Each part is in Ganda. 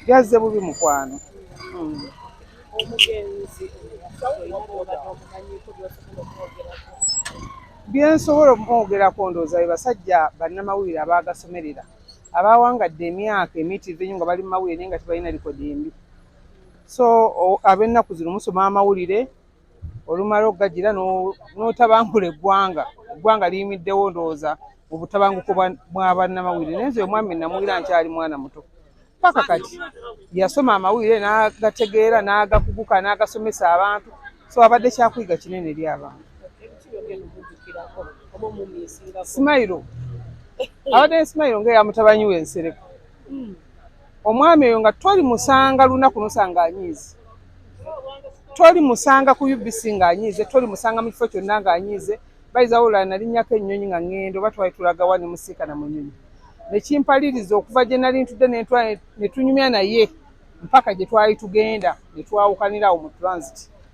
Byazze bubi mukwano. Mm. byensobola okumwogerako ndowooza be basajja bannamawulire abaagasomerera abaawangadde emyaka emitivu enyo nga bali mu mawulire naye nga tebalina likodi embi so ab'ennaku zino musoma amawulire olumala okugagira n'otabangula eggwanga eggwanga liyimiddewo ndowooza mu butabanguko bwa bannamawulire naye nze omwami namuwulira nkyali mwana muto paka kati yasoma amawulire n'agategeera n'agakuguka n'agasomesa abantu so abadde kyakuyiga kinene eri abantu simayiro abadde ne simayiro ngaeyamutabani we nsereko hmm. Omwami oyo nga toli musanga lunaku nosanga anyiize. Toli musanga ku UBC nga anyiize, toli musanga mu kifo kyonna nga anyiize. Bayiza wabula nalinnyako ennyonyi nga ŋŋenda oba twali tulaga wa ne musiika na munyonyi. Ne kimpaliriza okuva gye nali ntudde ne ntwala ne tunyumya naye mpaka gye twali tugenda ne twawukanira awo mu transit.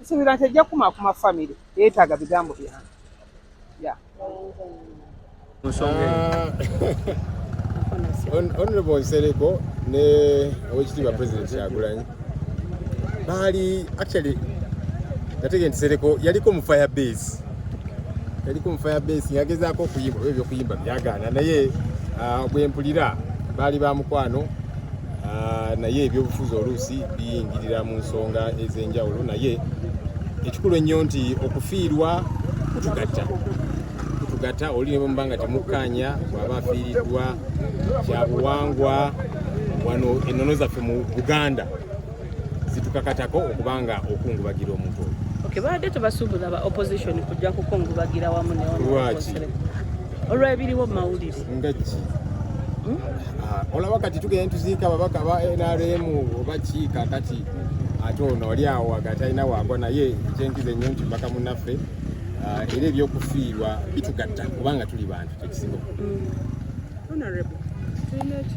nsuubira nti ejja kukumaakuma famire yeetaaga bigambo byange ya honorable nsereko ne owekitiibwa president kyagulanyi baali actually nategee nti sereko yaliko mu fire base yaliko mu fire base ngagezaako okuyimba oba ebyokuyimba byagaana naye ah, bwempulira baali ba mukwano Ah, naye ebyobufuzi oluusi biyingirira mu nsonga ez'enjawulo naye ekikulu ennyo nti okufiirwa kutugatta kutugatta oli ne bwemuba nga temukkaanya bwaba afiiriddwa kyabuwangwa wano ennono zaffe mu buganda zitukakatako okuba nga okungubagira omuntu oyo okay, baadde tebasuubula ba opposition kujja kukungubagira wamu neolwaki olwebiriwo mu mawulire nga ki hmm? ah, olaba kati tugenda ntuziika ababaka ba nrm oba ki kakati ate ono oli awo wagati alina waagwa naye ekyenkiza ennyo nti mbaka munaffe ah, era ebyokufiirwa bitugatta kubanga tuli bantu kyekisinga hmm.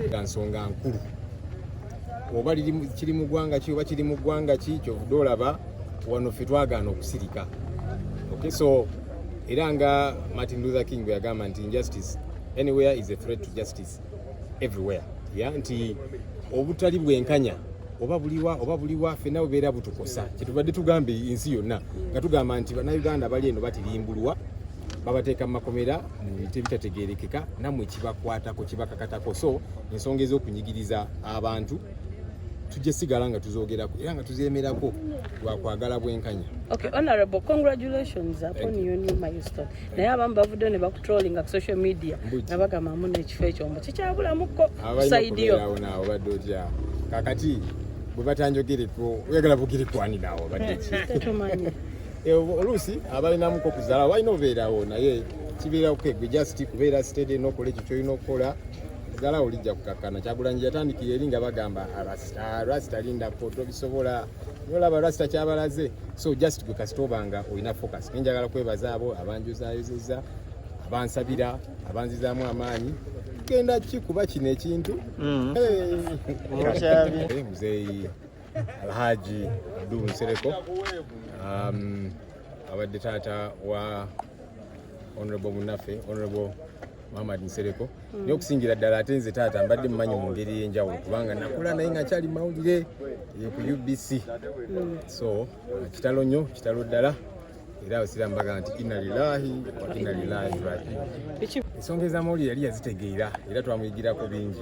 nga nsonga nkulu oba kiri mu ggwanga ki oba kiri mu ggwanga ki kyovude olaba wano ffe twagaana okusirika okay so era nga Martin Luther King bwe yagamba nti injustice anywhere is a threat to justice everywhere ya nti obutali bwenkanya oba buliwa oba buliwa fenna bubeera butukosa kyetubadde tugambye ensi yonna nga tugamba nti bannayuganda bali eno batirimbulwa babateeka mu makomera mu bintu ebitategerekeka namwe kibakwatako kibakakatako so ensonga ez'okunyigiriza abantu tujja sigala nga tuzogerako era nga tuzemerako lwakwagala bwenkanya okay honorable congratulations upon your new milestone naye abamu bavuddeyo ne bakutrollinga ku social media nga bagamba muna ekifo ekyo mbu kikyabulamuko saidiyo obadde otya kakati bwe batanjogereko oyagala bugere kwaninawo baddeki eh, oluusi abalinamuko okuzala walina obeerawo naye kibeerawo kegwe just kubeera sitede nokola ekyo kyolina okukola sigala olijja kukakkana kyagulanyi yatandikira eri nga bagamba arasta ah, arasta ah, lindako tobisobola nolaba arasta kyabalaze so just gwe kasita obanga olina focus nenjagala kwebaza abo abanjuzayozeza abansabira abanzizaamu amaanyi tugenda ki kuba kino ekintu mm. muzeeyi alhaji abdu nsereko um, abadde taata wa honorable munaffe honorable Muhammad Nsereko mm. naye okusingira ddala ate nze taata mbadde mumanyi mu ngeri ey'enjawulo kubanga nakula naye nga kyali mawulire eh, ku UBC mm. so uh, kitalo nnyo kitalo ddala era abasiraamu bagamba nti inna lillahi wa inna lillahi rajiun ensonga ez'amawulire yali yazitegeera era twamuyigirako bingi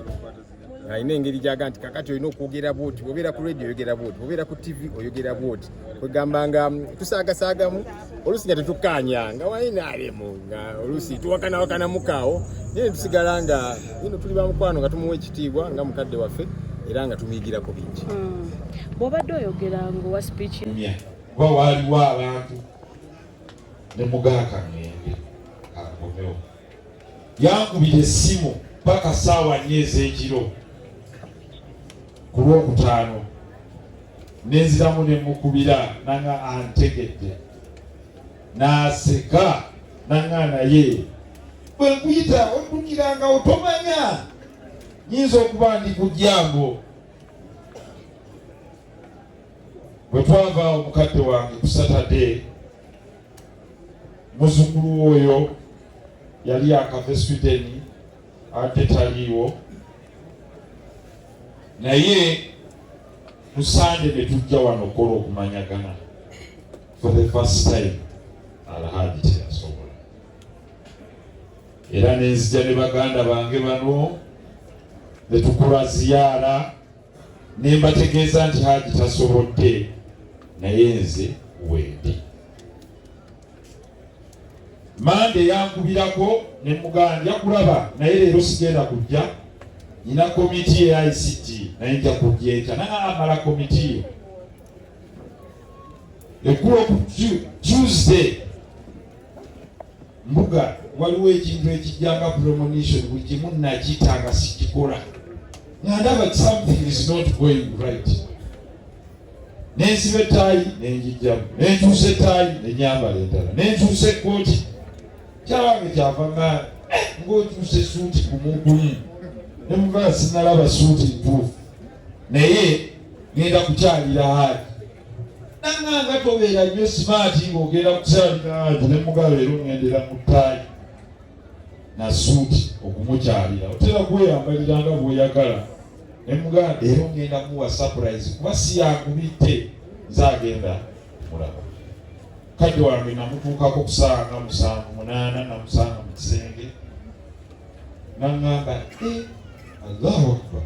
alina engeri gyaga nti kakati olina okwogera bwoti obeera ku radio oyogera bwoti obeera ku tv oyogera bwoti kwegamba nga mm, tusaagasaagamu oluusi nga tetukkaanya nga wainaalimu nga oluusi tuwakanawakanamukawo naye tusigala nga ino tuli bamukwano nga tumuwa ekitiibwa nga mukadde waffe era nga tumuyigirako bingi hmm. bwobadde oyogera ngaowa speech kuba waaliwo abantu ne mugaaka ngende akomewo yankubira essimu paka saawa nnya ez'ekiro ku lwokutaano nenziramu ne mukubira nanga antegedde n'aseka nanga naye bwe nkuyita oddukiranga otomanya nyinza okuba ndi ku jambo bwe twava omukadde wange ku saturday muzukulu oyo yali akava Sweden ate taliiwo naye musande netujja wano okola okumanyagana for the first time alhaji teyasobola era nenzija ne baganda bange bano netukola ziyaara ne mbategeeza nti Haji tasobodde naye nze wendi. Mande yankubirako ne muganja kulaba naye leero sigenda kujja, nina komiti eya ICT naye nja kujja enkya naye amala komiti eyo ekkulo ku Tuesday mbuga waliwo ekintu ekijjanga premonition buli kimu nakita nga sikikola nga ndaba something is not going right nensiba ettaayi nenjijjamu nenkyusa ettaayi nenyambala endala nenkyusa ekkooti kyawange kyava nga eh, ngaokyusa esuuti kumugumu nemuvaa sinalaba suuti ntuufu naye ngenda kukyalira haadi nanganga tobeera nnyo simaati ng'ogenda kukyaliraanti ne mugalo era oŋendera mu ttaayi na suuti okumukyalira otera kweyambalira nga bw'oyagala ne mugalo era oŋenda muwa sapurayizi kuba si yakubitte nze agenda mulaba kati wange namutuukako kusanga musanvu munaana namusanga mu kisenge nangamba e eh, allahu akbar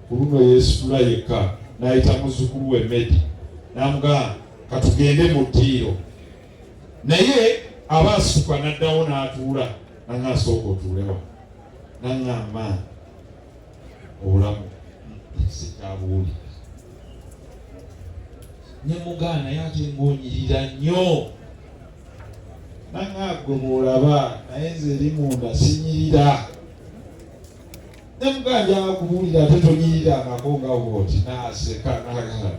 ku luno yeesitula yekka n'ayita muzzukulu we Medi n'amugamba katugende mu ddiiro naye aba asituka n'addawo n'atuula nanga asooka otuulewa nanga amaani obulamu sikyabuwuli ne mugaana ye ate ng'onyirira nnyo nanga gwe bw'olaba naye nze eri munda sinyirira nemuganja akubuulira ate tonyirira amako nga wooti naaseka nagala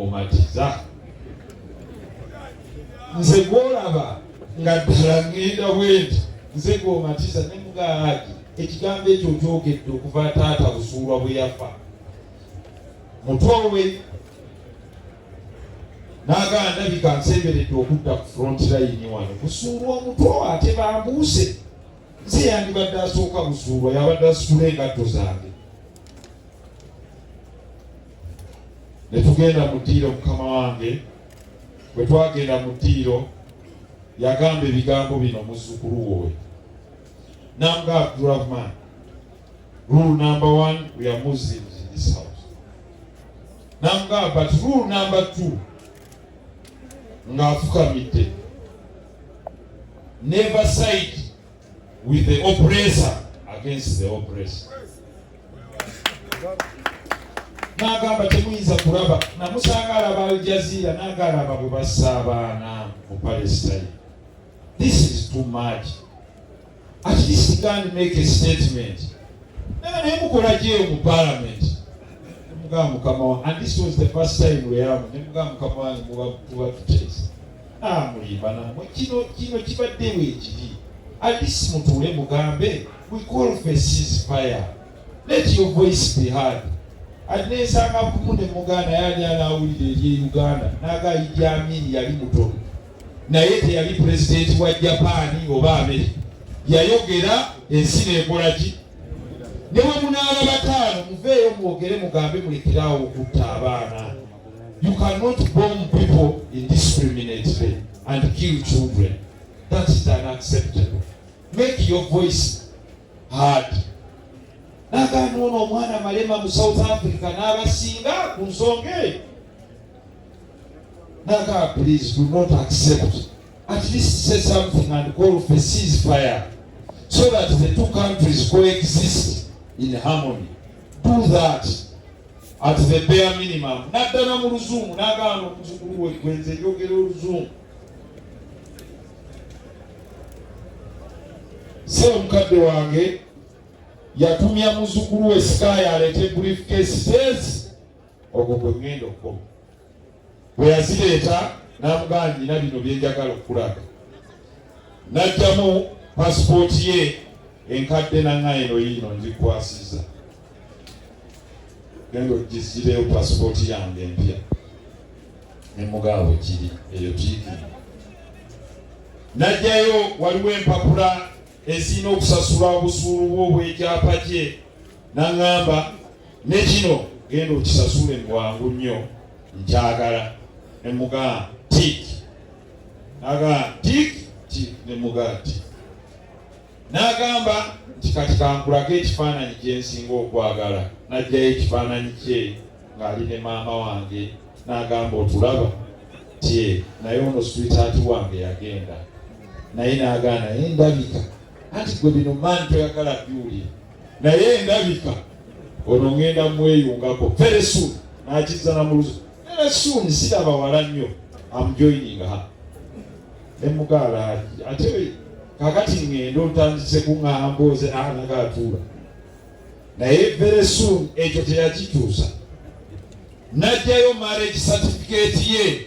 omatiza nze gwolaba nga ddala ŋŋenda bwenti nze gwomatiza nemugaalagi ekigambo ekyo nkyogedde okuva taata busuulwa bwe yafa mutoowe n'agamba ndabika nsemberedde okudda ku front line wano kusuulwa omutoowe ate bambuuse si yandibadde asooka busuulwa yabadde asitula engatto zange ne tugenda mu ddiiro mukama wange bwe twagenda mu ddiiro yagamba ebigambo bino muzzukulu wowe nanga abdurahman rule number one we are muslims in this house nanga but rule number two ng'afukamidde never side with the oppressor against the oppressor nagamba temuyinza kulaba namusanga alaba aljazira naga alaba bwe bassa abaana mu palestine this is too much At least you can make a statement. Nana naye mukola gye mu parliament. Mugamba mukama wange and this was the first time we are ne mugamba mukama wange muba kuba tutesa. Ah mulimba namwe kino kino kibadde wekiri. At least mutuule mugambe we call for ceasefire. Let your voice be heard. Ati nensanga kumu ne muganda yali anawulira eri Uganda naga Idi Amin yali mutono. naye teyali pulezidenti wa japaani oba amerika yayogera ensi neekola ki ne bwe munaaba bataano muveeyo mwogere mugambe mulekeraawo okutta abaana you cannot bomb people indiscriminately and kill children that is unacceptable make your voice hard nagamba ono omwana malema mu south africa n'abasinga ku nsonga eyo Naga, please do not accept. At least say something and call for ceasefire so that the two countries coexist in harmony. Do that at the bare minimum. Naddala mu luzungu nagaana omuzukulu we gwe nze njogera oluzungu. Se omukadde wange yatumya muzukulu we sikaaya aleete briefcase says ogwo gwe ŋŋenda okukoma bwe yazireeta n'amugamba nina bino bye njagala okukulaga n'ajjamu pasipooti ye enkadde nanga eno yiino ngikwasiza genda ogisireyo pasipooti yange empya ne mugabo kiri eyo tiikini najjayo waliwo empapula ezirina okusasula obusuulu bwo obw'ekyapa kye Naŋŋamba ne kino genda okisasule bwangu nnyo nkyagala ne mugaa tik nagaa tik ti ne mugaa ti n'agamba nti kati kankulage ekifaananyi kye nsinga okwagala n'ajjayo ekifaananyi kye ng'ali ne maama wange n'agamba otulaba tye naye ono switaati wange yagenda naye n'agaana naye ndabika anti gwe bino maani toyagala biwulira naye endabika ono ngenda mweyungako very soon nakiriza namuluzi very soon siraba wala nnyo amjoining ha nemugaala ate kakati ngenda otandise kuŋamba oze anaga atuula naye very soon ekyo teyakikyusa najjayo marriage certificate ye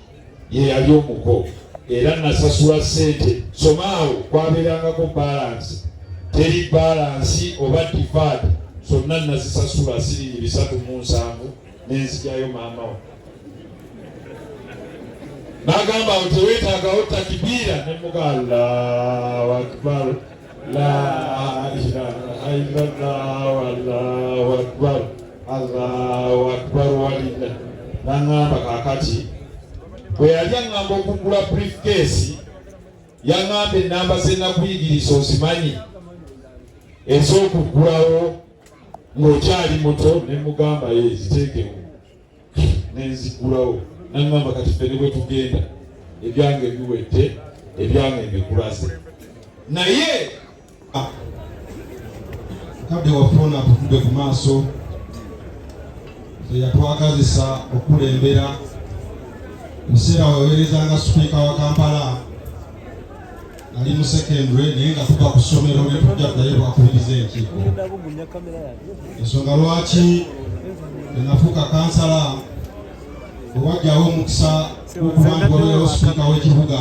ye yali omuko era nasasula ssente somaawo kwabeerangako balansi teri balansi oba divaadi zonna nazisasula siringi bisatu mu nsanvu nenzijayo maamawo nagamba nti wetagawo takibiira nemuga allahu akibaru naŋŋamba kaakati bwe yali aŋŋamba okuggula briefcase yaŋŋamba ennamba ze nakuyigiriza ozimanyi ez'okuggulawo ng'okyali muto ne mugamba ye ziteekemu nenzigulawo nangamba kati ffe ne bwetugenda ebyange biwedde ebyange mbikulaze naye ah, kadde wafuna tutude ku maaso eyatwagazisa okukulembera museera wewereza nga sipiika wa kampala ali mu secondary naye nga tuva ku ssomero ne tujja ddayo bwakubiriza enkiiko ensonga lwaki enafuuka kansala owajjawo omukisa okuba nti wabeerawo sipiika w'ekibuga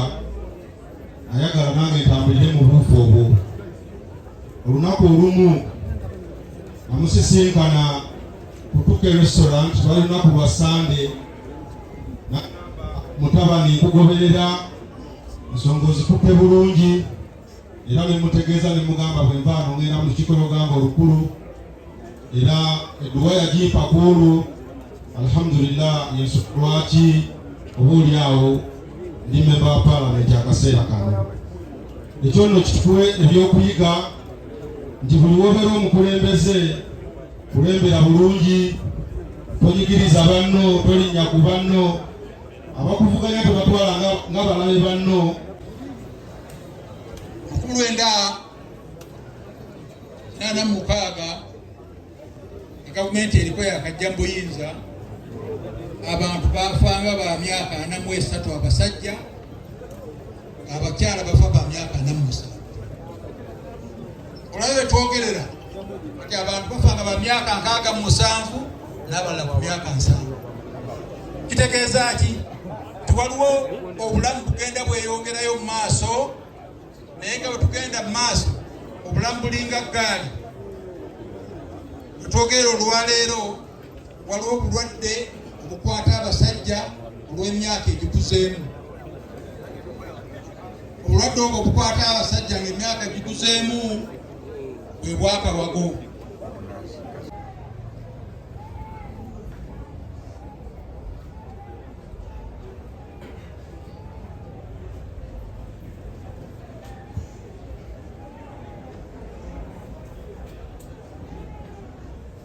ayagala nange ntambulire mu buufu obwo olunaku olumu amusisinkana kutuka erestaurant lwali lunaku lwa sande mutabani nkugoberera ensonga ozikutte bulungi era ne mutegeeza ne mugamba bwe nva ano ngenda mu lukiiko lwogamba olukulu era edduwa yagimpa ku olwo alhamdulillah yesu lwaki oba oli awo ndi memba wa paalamenti akaseera kano ekyo nno kituwe ebyokuyiga nti buli wobeera omukulembeze kulembera bulungi tonyigiriza banno tolinnya ku banno abakuvuganya tebatwala nga balabe banno mukulu enda nana mukaaga gavumenti eriko yakajja mubuyinza abantu bafanga ba myaka ana mu esatu abasajja abakyala bafa ba myaka namusa olaba betwogerera ti abantu bafa nga ba myaka nkaaga mu musanvu n'abalala ku myaka nsanvu kitegeeza ki tiwaliwo obulamu bugenda bweyongerayo mu maaso naye nga bwetugenda mu maaso obulamu bulinga ggaali wetwogerera olwaleero waliwo obulwadde obukwata abasajja olw'emyaka egikuzeemu obulwadde obwo obukwata abasajja ng'emyaka egikuzeemu bwe bwakawago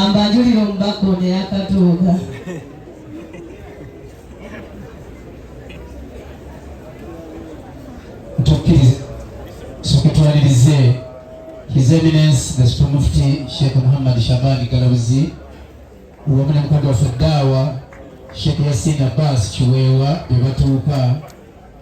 Ambajulira omubaka ono eyakatuuka. Tukkirize tukutwalirize His Eminence the Supreme Mufti Sheikh Muhammad Shabani Galabuzi wamu ne mukadde waffe Daawa Sheikh Yasin Abbas Kiweewa bye batuuka